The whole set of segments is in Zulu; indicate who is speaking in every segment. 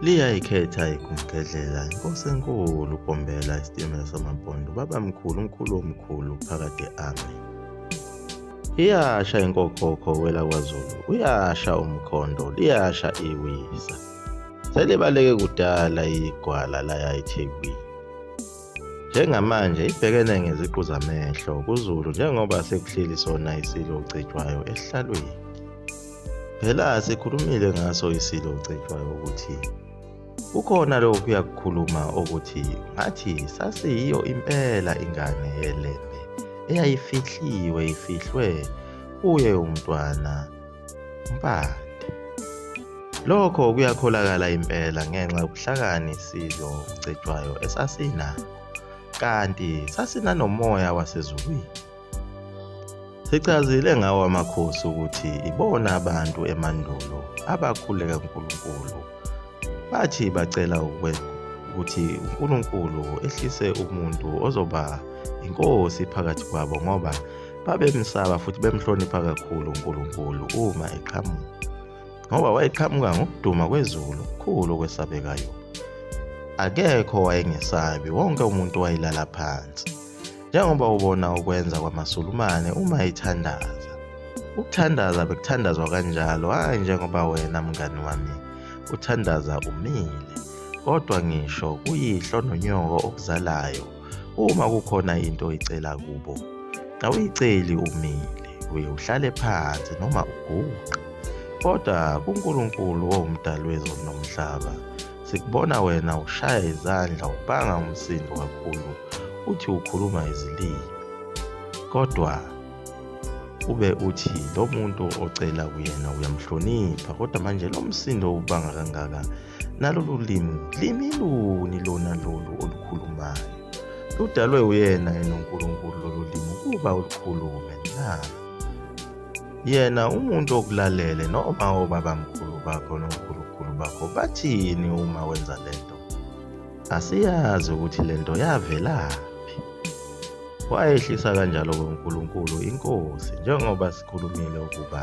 Speaker 1: Liyayikhetha igumgedlela inkosi enkulu ugombela isitimela samampondo baba mkhulu umkhulu omkhulu phakade ame iyasha inkokhokho wela kwazulu uyasha umkhondo liyasha iwisa selibaleke kudala igwala layayithekwini Njengamanje ibhekene ngeziqu zamehlo kuZulu njengoba sekuhleli sona isilo uCetshwayo esihlalweni. Phela sikhulumile ngaso isilo uCetshwayo ukuthi kukhona lokhu kuyakukhuluma ukuthi ngathi sasiyiyo impela ingane yeLembe eyayifihliwe ifihlwe kuye umntwana Mpande. Lokho kuyakholakala impela ngenxa yobuhlakani isizwe okucetshwayo esasinakho, kanti sasinanomoya wasezulwini. Sichazile ngawo amakhosi ukuthi ibona abantu emandulo abakhuleka uNkulunkulu Bathi bacela ukuthi uNkulunkulu ehlise umuntu ozoba inkosi phakathi kwabo ngoba babemsaba futhi bemhlonipha kakhulu uNkulunkulu uma eqhamuka ngoba wayeqhamuka ngokuduma kwezulu okukhulu okwesabekayo akekho wayengesabi wonke umuntu wayelala phansi njengoba ubona ukwenza kwamaSulumane uma ethandaza. Ukuthandaza bekuthandazwa kanjalo, hhayi njengoba wena mngani wami uthandaza umile, kodwa ngisho kuyihlo nonyoko okuzalayo, uma kukhona into oyicela kubo, awuyiceli umile, uye uhlale phansi noma uguqe. Kodwa kuNkulunkulu owumdali wezulu nomhlaba, Sikubona wena ushaya izandla ubanga umsindo kakhulu uthi ukhuluma izilimi. Kodwa ube uthi lo muntu ocela kuyena uyamhlonipha kodwa manje lo msindo ubanga kangaka nalolu limi limi luni lona lolu olukhulumayo ludalwe uyena yena uNkulunkulu lolu limi ukuba ulukhulume na yena umuntu okulalele noma obabamkhulu bakho nonkulunkulu bakho bathini uma wenza le nto asiyazi ukuthi le nto yavelaphi wayehlisa kanjalo kuNkulunkulu inkosi njengoba sikhulumile ukuba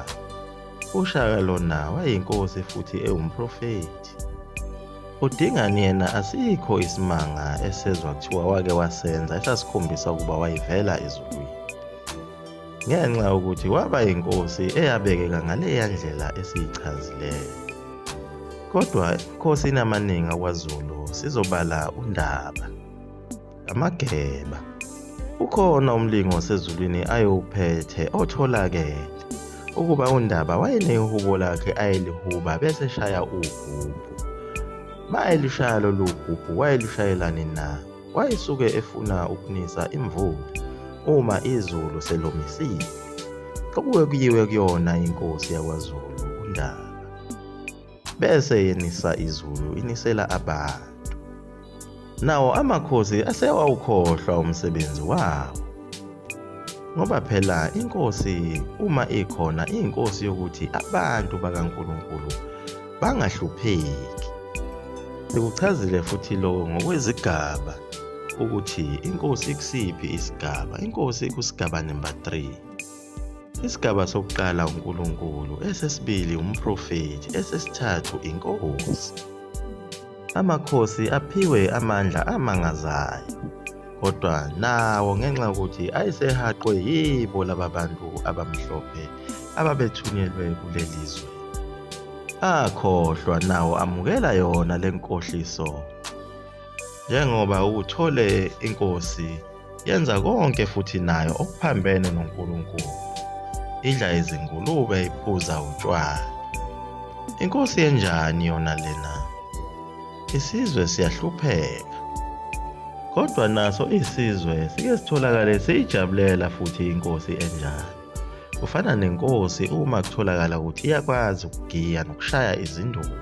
Speaker 1: uShaka lona wayinkosi futhi ewumprofethi udingani yena asikho isimanga esezwa kuthiwa wake wasenza esasikhombisa ukuba wayivela ezulwini ngenxa yokuthi waba yinkosi eyabekeka ngaleya ndlela esiyichazileyo. Kodwa emikhosini amaningi akwaZulu sizobala uNdaba, amageba. Ukhona umlingo osezulwini ayewuphethe otholakele ukuba uNdaba wayenehubo lakhe ayelihuba bese eshaya ugubhu. Uma elishaya lolu gubhu wayelushayelani na? wayesuke efuna ukunisa imvula uma izulu selomisile okuke kuyiwe kuyona inkosi yakwaZulu uNdaba bese yenisa izulu inisela abantu nawo amakhosi asewawukhohlwa umsebenzi wawo ngoba phela inkosi uma ikhona iyinkosi yokuthi abantu bakaNkulunkulu bangahlupheki. Sikuchazile futhi lokho ngokwezigaba ukuthi inkosi ikusiphi isigaba. Inkosi ikusigaba number 3. Isigaba sokuqala uNkulunkulu, esesibili umprofethi, esesithathu inkosi. Amakhosi aphiwe amandla amangazayo, kodwa nawo ngenxa yokuthi ayesehaqwe yibo laba bantu abamhlophe ababethunyelwe kuleli zwe. Akhohlwa nawo amukela yona le nkohliso njengoba uthole inkosi yenza konke futhi nayo okuphambene noNkulunkulu idla izingulube iphuza utshwala inkosi yenjani yona lena isizwe siyahlupheka kodwa naso isizwe sike sitholakale siyijabulela futhi inkosi enjani kufana nenkosi uma kutholakala ukuthi iyakwazi ukugiya nokushaya izinduku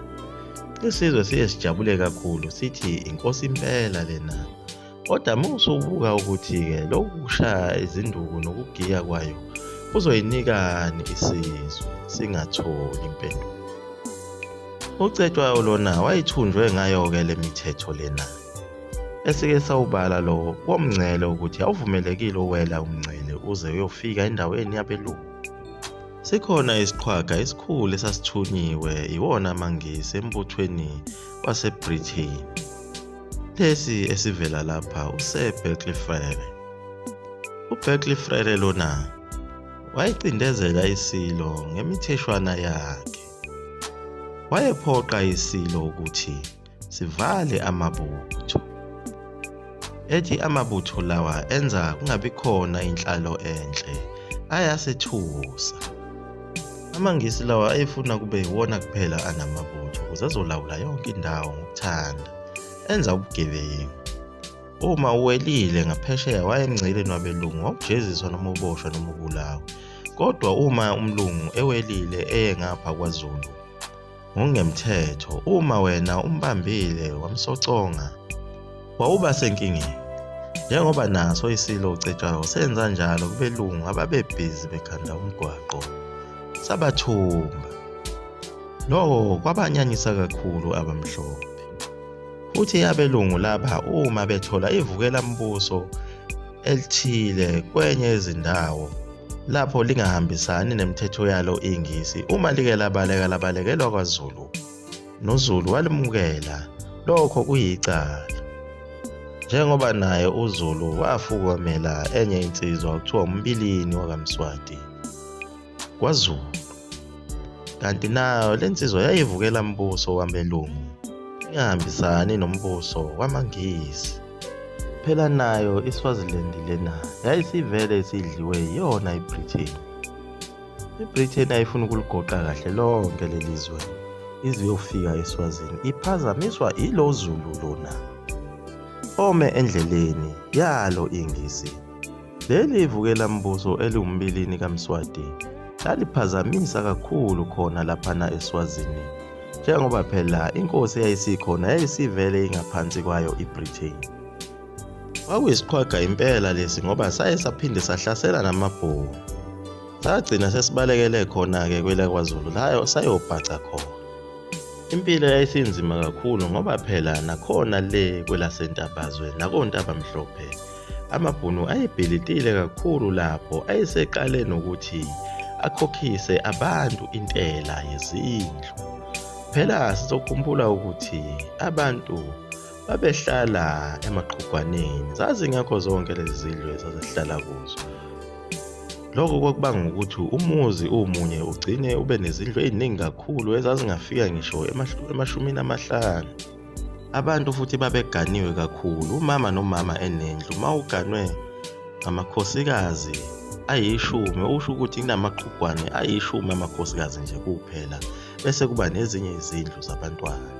Speaker 1: isizwe siye sijabule kakhulu sithi inkosi impela lena Kodwa uma usubuka ukuthi-ke lokhu kushaya izinduku nokugiya kwayo kuzoyinikani isizwe singatholi impendulo. UCetshwayo lona wayithunjwe ngayo-ke le mithetho lena. Esike sawubala lo womngcele ukuthi awuvumelekile uwela umngcele uze uyofika endaweni yabelungu. Sikhona isiqhwaga esikhulu esasithunyiwe iwona amaNgisi embuthweni waseBritain. Lesi esivela lapha useBerkeley Frere. UBerkeley Frere lona wayecindezela isilo ngemitheshwana yakhe. Wayephoqa isilo ukuthi sivale amabutho. Ethi amabutho lawa enza kungabi khona inhlalo enhle ayasethusa. AmaNgisi lawa ayefuna kube yiwona kuphela anamabutho ukuze azolawula yonke indawo ngokuthanda, enza ubugebengu. Uma uwelile ngaphesheya wayemngceleni wabelungu wawujeziswa noma uboshwa noma ubulawa. Kodwa uma umlungu ewelile eye ngapha kwaZulu, ngokungemthetho uma wena umbambile wamsoconga wawuba senkingeni njengoba naso isilo ucetshwayo senza njalo kubelungu ababebhizi bekhanda umgwaqo sabathumba loko kwabanyanyisa kakhulu abamhlophe futhi abelungu laba uma bethola ivukela mbuso elithile kwenye yezindawo lapho lingahambisani nemithetho yalo ingisi uma like labaleka labalekelwa kwazulu nozulu walimukela lokho kuyicala njengoba naye uzulu wafukomela enye insizwa okuthiwa umbilini wakamswati kwaZulu kanti nayo le nsizwa yayivukela mbuso wabelungu ingahambisani nombuso wamaNgisi phela nayo iSwaziland lena yayisivele isidliwe yiyona iBritain iBritain ayifuni ukuligoqa kahle lonke leli zwe ize yofika eSwazini iphazamiswa ilo Zulu lona ome endleleni yalo ingisi Leli ivukelambuso eliwumbilini kaMswati laliphazamisa kakhulu khona laphana eSwazini njengoba phela inkosi eyayisikhona yayisivele ingaphansi kwayo iBritain. Kwakuyisiqhwaga impela lesi ngoba saye saphinde sahlasela namaBhunu. Sagcina sesibalekele khona-ke kwelakwaZulu layo sayobhaca khona. Impilo yayisinzima kakhulu ngoba phela nakhona le kwelaseNtabazwe nakoNtabamhlophe Amabhunu ayebhilitile kakhulu lapho ayeseqale nokuthi akhokhise abantu intela yezindlu. Phela sizokhumbula ukuthi abantu babehlala emaqhugwaneni zazingekho zonke lezi zindlu ezazihlala kuzo lokho kwakubanga ukuthi umuzi umunye ugcine ube nezindlu eziningi kakhulu ezazingafika ngisho emashumini amahlanu Abantu futhi babeganiwe kakhulu. Umama nomama enendlu uma uganwe ngamakhosikazi ayishumi okusho ukuthi kunamaqhugwane ayishumi amakhosikazi nje kuphela bese kuba nezinye izindlu zabantwana.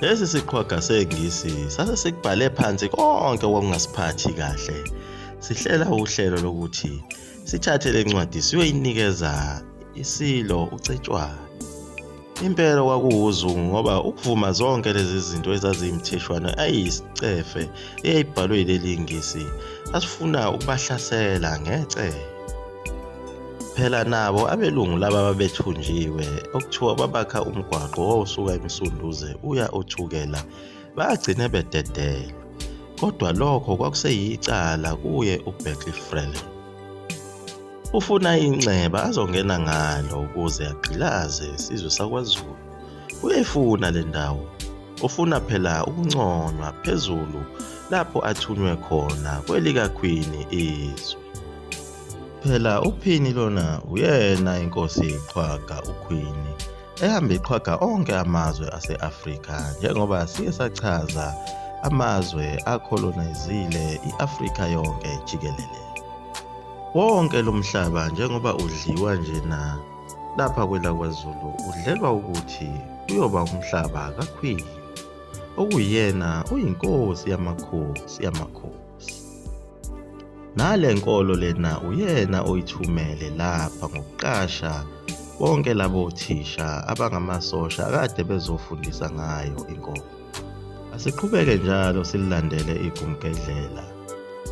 Speaker 1: Lesi siqhwaga sengisi sase sikubhale phansi konke okungasiphathi kahle. Sihlela uhlelo lokuthi sithathe le ncwadi siyoyinikeza isilo uCetshwayo. Impela kwakuwuzungu ngoba ukuvuma zonke lezi zinto ezaziyimtheshwana ayisicefe eyayibhalwe yileli ngisi asifuna ukubahlasela ngece. Phela nabo abelungu laba babethunjiwe okuthiwa babakha umgwaqo owawusuka emsunduze uya othukela bagcine bededelwe. Kodwa lokho kwakuseyicala kuye uBerkeley Freleng. Ufuna inxeba azongena ngalo ukuze agqilaze isizwe sakwaZulu. Uyayifuna le ndawo. Ufuna phela ukunconywa phezulu lapho athunywe khona kwelikakhwini izwe. Phela uphini lona uyena inkosi iqhwaga ukhwini ehambe iqhwaga onke amazwe ase-Afrika njengoba siye sachaza amazwe akholonayizile i-Afrika yonke jikelele. Wonke lo mhlaba njengoba udliwa nje na lapha kwelakwazulu udlelwa ukuthi uyoba umhlaba kakhwili okuyena uyinkosi yamakhosi yamakhosi nale nkolo lena uyena oyithumele lapha ngokuqasha bonke labo thisha abangamasosha kade bezofundisa ngayo inkolo Asiqhubeke njalo sililandele igumgedlela.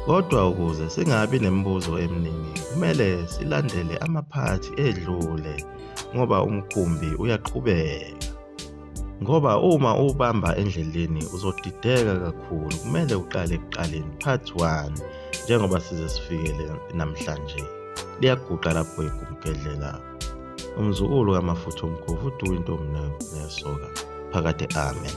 Speaker 1: Kodwa ukuze singabi nemibuzo eminingi, kumele silandele amaphathi edlule ngoba umkhumbi uyaqhubeka. Ngoba uma uwubamba endleleni uzodideka kakhulu, kumele uqale ekuqaleni part 1 njengoba size sifikele namhlanje. Liyaguqa lapho igumgedlela. umzukulu kamafutha omkhovu uduka intombi nayo neyasoka phakade amen